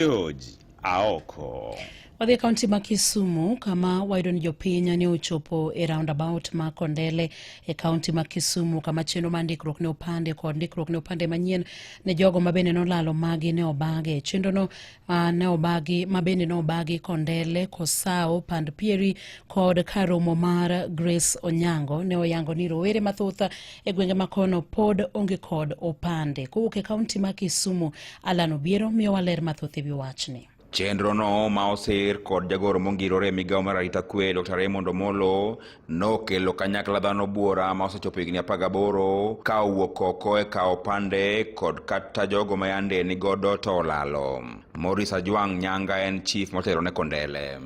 George Aoko. Wadhi e kaunti ma Kisumu kama wayudo ni jopiny ne ochopo e roundabout ma Kondele e kaunti ma Kisumu kama chenro mar ndikruok ne opande kod ndikruok ne opande manyien ne jogo ma bende nolalo magi ne obage. Chenrono uh, ne obagi ma bende ne obagi Kondele, Kosao, Pand Pieri kod karomo mar Grace Onyango ne oyango ni rowere mathoth E gwenge ma kono pod onge kod opande. Kowuok e kaunti ma Kisumu, Alan Obiero miyowa ler mathoth e wi wachni. Chenrono ma oser kod jagoro mongirore e migawo mar arita kwe Dr. Raymond Omolo nokelo kanyakla dhano buora ma osechopo higni 18 ka owuok oko e kawo opande kod kata jogo ma yande ni godo to olalo. Morris Ajwang' Nyanga en chief motelo ne Kondele.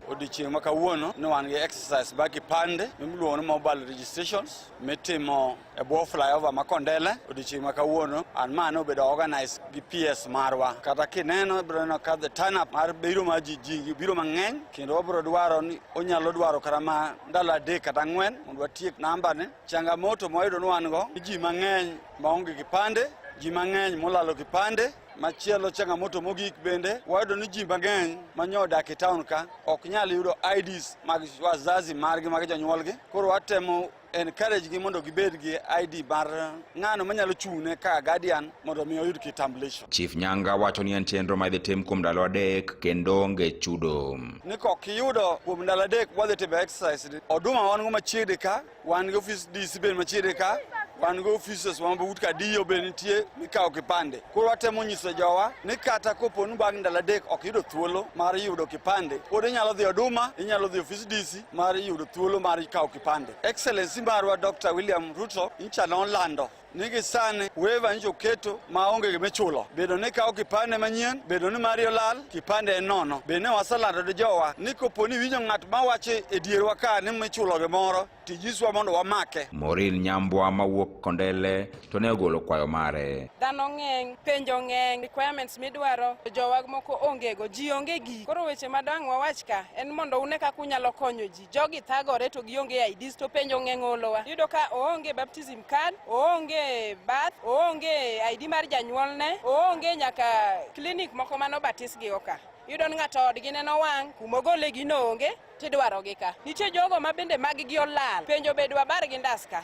odiochieng' ma kawuono ne wan gi exercise bag kipande miluongo ni mobile registrations mitimo e bwo flyover ma Kondele odiechieng' ma kawuono and ma nobedo organize gi PS marwa. Kata kineno ibiro neno ka the turn up mar biro mar ji ji biro mang'eny kendo wabiro dwaro ni onyalo dwaro kata ma ndalo adek kata ang'wen mondo watiek namba ni. Changamoto mwayudo ni wan go ji mang'eny maonge kipande ji mang'eny molalo kipande Machielo changamoto mogik bende wayudo ni ji mang'eny ma nyo odak e taon ka ok nyal yudo IDs mag wazazi margi mag jonyuolgi. Koro watemo encourage gi mondo gibed gi ID mar ng'ano manyalo chung'ne ka guardian mondo mi oyud kitambulisho. Chief Nyanga wacho ni en chenro ma idhi tim kuom ndalo adek kendo onge chudo. Ni kok iyudo kuom ndalo adek wadhi timo exercise. Oduma wan go machiegni ka Wan gi ofis DC bende machiegni ka, wan gi offices ma but ka DO e bende nitie mikawo kipande. Koro watemo nyiso jowa ni kata kopo ni bang' ndalo adek ok yudo thuolo mar yudo kipande, pod inyalo dhi Oduma, inyalo dhi ofis DC mar yudo thuolo mar kawo kipande. Excellency marwa Dr. William Ruto nyicha nolando nigi sani weva nyicho keto ma onge gima ichulo bedo ni kawo kipande manyien bedo ni mari olal kipande en nono be ne waselando ni jowa ni kopo ni winjo ng'at ma wacho e dierwa ka ni michulo gimoro tijiswa mondo wamake Morin Nyambwa mawuok Kondele to ne ogolo kwayo mare. dhano ng'eny penjo ng'eny requirements midwaro jowa moko ongego ji onge gi koro weche madang' wawach ka en mondo une kaka unyalo konyo ji jogi thagore to gionge IDs to penjo ng'e ng'olowa. Yudo ka oonge baptism card, oonge bath, oonge ID mar janyuolne, oonge nyaka klinik moko mano batisgi oka. Yudo ni ng'ato odgi neno wang' kuma ogole gino onge tidwarogi ka. Nitie jogo ma bende maggi olal penjo be dwabar gi ndas ka.